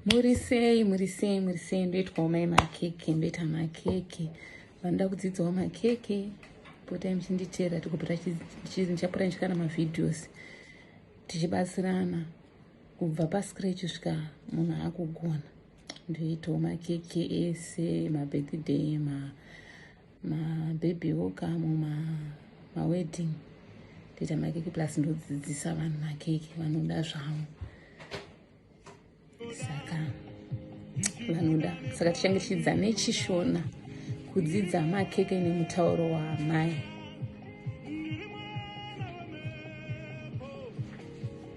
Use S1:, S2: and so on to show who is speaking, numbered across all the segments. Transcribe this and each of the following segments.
S1: muri sei muri sei muri sei ndoitwawo mai makeke ndoita makeke vanoda kudzidzawo makeke potai muchinditeera tikupota ndichapota ndichika na mavideos tichibatsirana kubva pascratch svika munhu akugona ndoitawo makeke ese mabirthday ma, ma mabhebhi woka muma mawedding ndoita makeke plus ndodzidzisa vanhu makeke vanoda zvavo saka vanoda saka tichange tichidzidza nechishona kudzidza makeke nemutauro waamai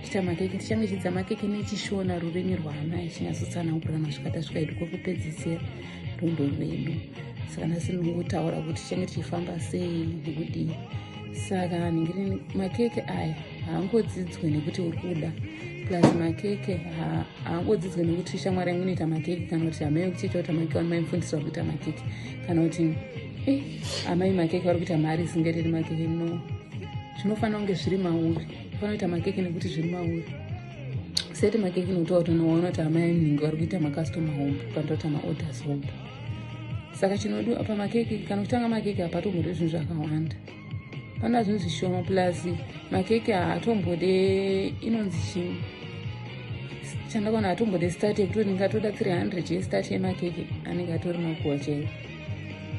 S1: kuita makeke tichange chidzidza makeke nechishona rurimi rwaana ichinyatsotsanangurana zvikata zvikaitwa kwekupedzisira rwendo rwedu saka nhasi ndingotaura kuti tichange tichifamba sei nekudii saka ndingiri makeke aya haangodzidzwe nekuti uri kuda plus makeke haangodzidzwe nekuti shamwari yangu inoita makeke kana kuti amai vekuchiita kuti amake wanu maimufundisa vari kuita makeke kana kuti e amai makeke vari kuita mari isingaitiri makeke no zvinofanira kunge zviri mauri vanoita makeke nekuti zviri mauri sete makeke notaura kuti unoona kuti amai mhingi vari kuita makastoma hombe panoita kuti maorders hombe saka chinodiwa pamakeke kana kutanga makeke hapatombode zvinhu zvakawanda pana zvinhu zvishoma plus makeke haatombode inonzi chii chandakaona hatombode start yekuti ndingatoda 300 yestart yemakeke anenge atori makuwa chaiwo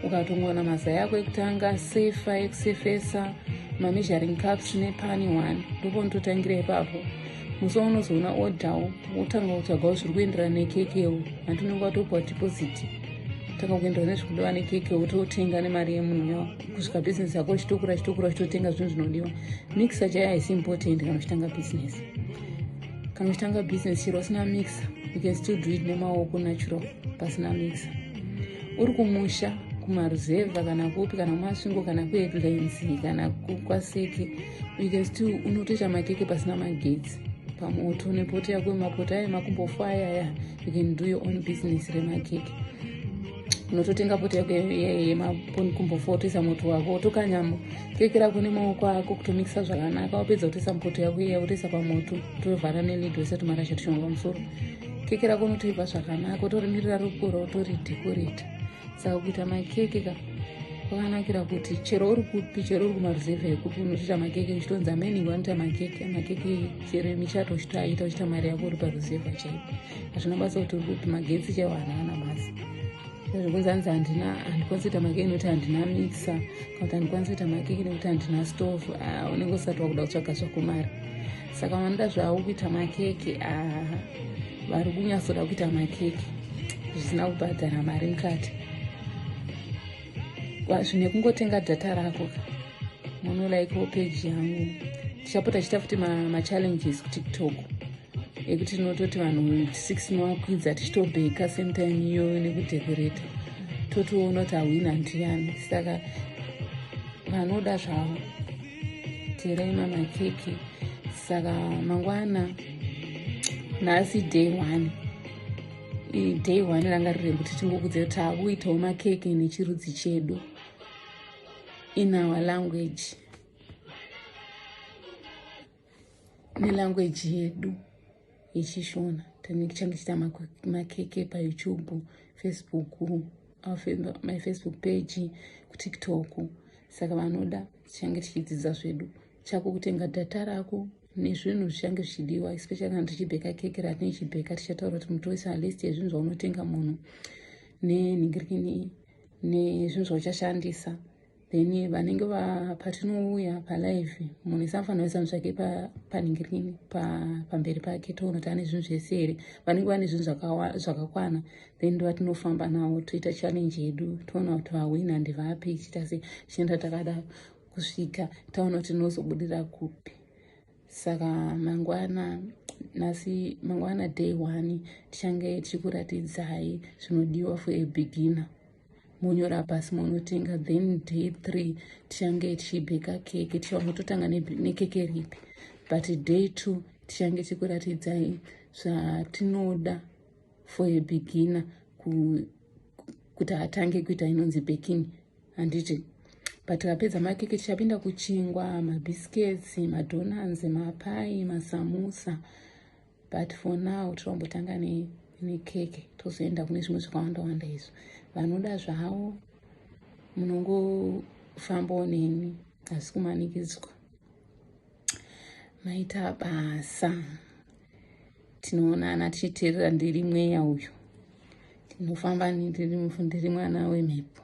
S1: ukatongoona mazai ako ekutanga sefa ekusefesa mameasuring caps nepani one ndoponototangira ipapo musi waunozoona odawo wotanga kutsvagawo zviri kuenderana nekekewo hanti unenge watopiwa deposit tanga kuenderana nezviri kudiwa nekeke wototenga nemari yemunhuwo kusvika bhizinesi yako chitokura chitokura chitotenga zvinhu zvinodiwa mixer chaiyo haisi important kana uchitanga bhizinesi kana uchitanga bhizinesi chero usina mixer you can still do it nemaoko natural pasina mixer uri kumusha kumaruzevha kana kupi kana kumasvingo kana kuedlines kana kwaseke you can still unotoita makeke pasina magetsi pamoto nepoto yako yemapoto ayo emakumbofu ayaya you can do your own business remakeke unototenga poto yako yemakumbofu wotoisa moto wako wotokanyama keke rako nemaoko ako kutomikisa zvakanaka wapedza kutoisa mupoto yako iya wotoisa pamoto tovhara nelido isati marasha tushonga pamusoro keke rako unotoibva zvakanaka utorimirira rukura utori dekoreta saka kuita makeke ka kwakanakira kuti chero uri kupi chero uri kumaruzevha ekupi unotoita makeke uchitonzi ameni wanoita makeke makeke chero emichato uchitoaita uchiita mari yako uri paruzevha chaipo hazvina basa kuti uri kupi magetsi chaiwo hana ana basa zvekunzi anzi handina handikwanisi kuita makeke nekuti handina mixer kana kuti handikwanisi kuita makeke nekuti handina stovu ah, unenge usati wakuda kutsvaga zvakumari saka vanoda zvavo kuita makeke aha vari kunyatsoda kuita makeke zvisina kubhadhara mari mukati zvine kungotenga data rako ka monolaikawo peji yangu tichapota chiita futi machallenges kutiktok ekuti tinototi vanhu 6 nowakwidza tichitobheka same time iyoyo nekudhekoreta totoona kuti ahwina ndiyani saka vanoda zvavo terai mama keke saka mangwana nhasi day one day one ranga riri rekuti tingokudzira kuti takuitawo makeke nechirudzi chedu in our language nelanguage yedu yechishona tine kuchange chiita makeke payoutube facebook my facebook page kutiktok saka vanoda tichange tichidzidza zvedu chako kutenga data rako nezvinhu zvichange zvichidiwa especially kana tichibheka keke ratine chibheka tichataura kuti mutoisa list yezvinhu zvaunotenga munhu nenhingirikini nezvinhu zvauchashandisa then vanenge patinouya palive munhu ese anofanira kuisa zvake paningirini pamberi pake toona kuti ane zvinhu zvese here vanenge vane zvinhu zvakakwana then ndovatinofamba nawo toita challenge yedu toona kuti vahwina ndivapi ichiita se chienda takada kusvika taona kuti tinozobudira kupi saka mangwana nhasi mangwana day one tichange tichikuratidzai zvinodiwa for a beginner monyora pasi monotenga then day three tichange tichibheka keke tichaona totanga nekeke ripi but day two tichange tikuratidzai zvatinoda for a beginner kuti atange kuita inonzi baking handiti but vapedza makeke tichapinda kuchingwa mabiscuits madonans mapai masamusa but for now tinombotanga nekeke tozoenda kune zvimwe zvakawanda wanda izvo vanoda zvavo munongofambawo neni asi kumanikidzwa maita basa tinoonana tichiteerera ndiri mweya uyu tinofamba ndiri mwana wemhepo